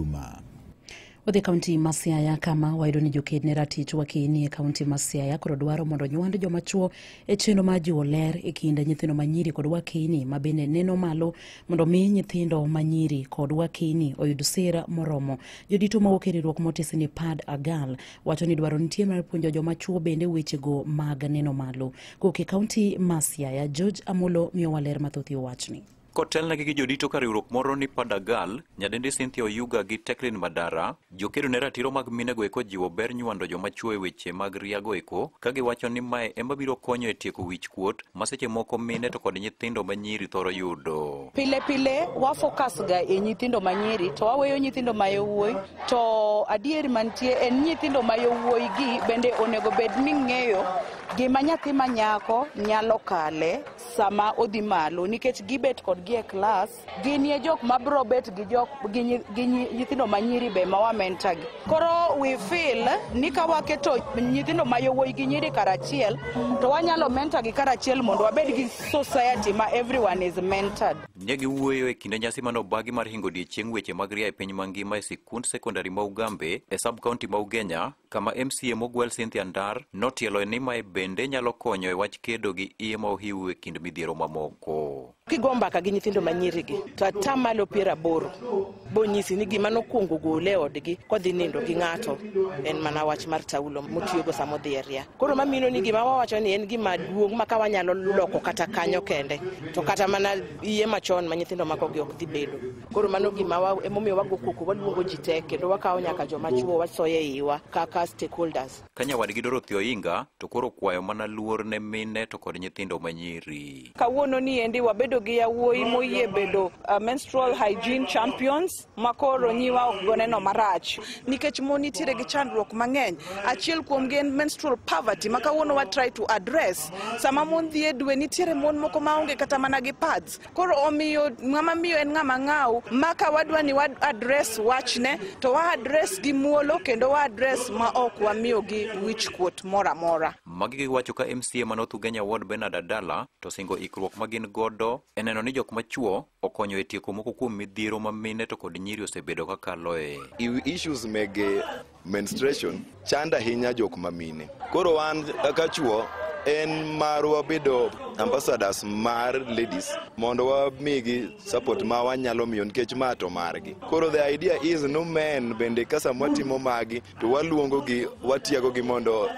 Juma. Wadhi kaunti ma Siaya kama wayudo ni joked ne ratich wakeni e kaunti ma Siaya koro dwaro mondo nywand joma chuo e chenro mar jiwo ler e kind nyithindo ma nyiri kod wakeni ma bende neno malo mondo mi nyithindo ma nyiri kod wakeni oyud sir moromo. Jodito mawuok e riwruok motisi ni Pad Agal wacho ni dwaro nitie mar puonjo joma chuo bende wechego mag neno malo. Kowuok e kaunti ma Siaya, George Amolo miyowa ler mathoth e wachni. Kotelnegi gi jodito ka riwruok moro ni Padagal, nyadendi Cynthia Oyuga gi Teklin Madara, jokedo ne ratiro mag minego eko jiwo ber nywando joma chwo e weche mag riago eko, ka giwacho ni mae ema biro konyo e tieko wich kuot ma seche moko mine to kod nyithindo ma nyiri thoro yudo. Pile pile wafokas ga e nyithindo ma nyiri to waweyo nyithindo ma yowuoyi to adieri mantie en nyithindo ma yowuoyi gi bende onego bed ni ng'eyo gima nyathi ma nyako nyalo kale sama odhi malo nikech gibet kodgi e klas ginie jok ma bro bet gi jok gi nyi- gi nyi- nyithindo ma nyiri be ma wamenta gi koro we feel ni ka waketo nyithindo ma yowuoyi gi nyiri karachiel to wanyalo menta gi karachiel mondo wabed gi society ma everyone is mentored Ne giwuoyo e kinde nyasi mane obagi mar hingo odiechieng' weche mag ria e piny mangima e sikund sekondari ma Ugambe e sub-county ma Ugenya kama MCA mogwel Cynthia Ndar notieloe ni mae bende nyalo konyo e wach kedo gi iye ma ohiu e kind midhiero mamoko. Kigo mbaka gi nyithindo manyirigi to ata malo piero aboro bonyisi ni gima nokwongo gole e odgi kodhi nindo gi ng'ato en mana wach mar taulo motiyogo sama odhi e ria. Koro mamino ni gima wawacho ni en gima duong' ma ka wanyalo loko kata kanyo kende to kata mana iye machon ma nyithindo makogi ok dhi bedo. koro mano gima wa emomiyo wago koko waluongo ji te kendo wakawo nyaka joma chuo wasoyo e iwa kaka stakeholders Ka nyawadgi Dorothy Oinga to koro kwayo mana luor ne mine to kod nyithindo ma nyiri. kawuono ni endi wabedo gi yawuoyi moyie bedo uh, menstrual hygiene champions ma koro nyiwa ok goneno marach nikech mon nitiere gi chandruok mang'eny achiel kuomgi en menstrual poverty ma kawuono wa try to address sama mon dhi e dwe nitiere mon moko ma onge kata mana gi pads Koro omiyo ng'ama miyo en ng'ama ng'aw ma ka wadwa ni wad address wachne to wa address gi muolo kendo wa address ma ok wamiyo gi wich kuot moro amora. Magi giwacho ka MCA ma North Ugenya Ward Bernard Adala to singo ikruok ma gin godo e neno ni jok machuo okonyo e tieko moko kuom midhiero ma mine to kod nyiri osebedo ka kaloe. issues meg Menstruation chanda ahinya jok ma mine. Koro wan kaka chuo en marwa bedo ambassadors mar ladies mondo wamigi support ma wanyalo miyo nikech ma to margi koro the idea is no men bende ka sama watimo magi to waluongogi watiagogi mondo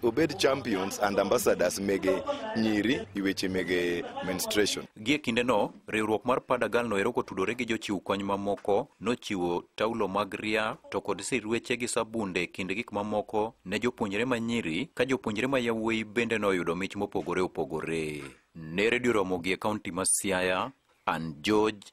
obed champions and ambassadors mege nyiri i weche mege menstruation gie kindeno Riwruok mar Padagal noero kotudore gi jochiw kony mamoko nochiwo taulo mag ria to kod sirweche gi sabunde kind gik mamoko ne jopuonjre ma nyiri ka jopuonjre ma yawuoyi bende noyudo mich mopogore opogore. Ne redio Ramogi e kaunti ma Siaya, an George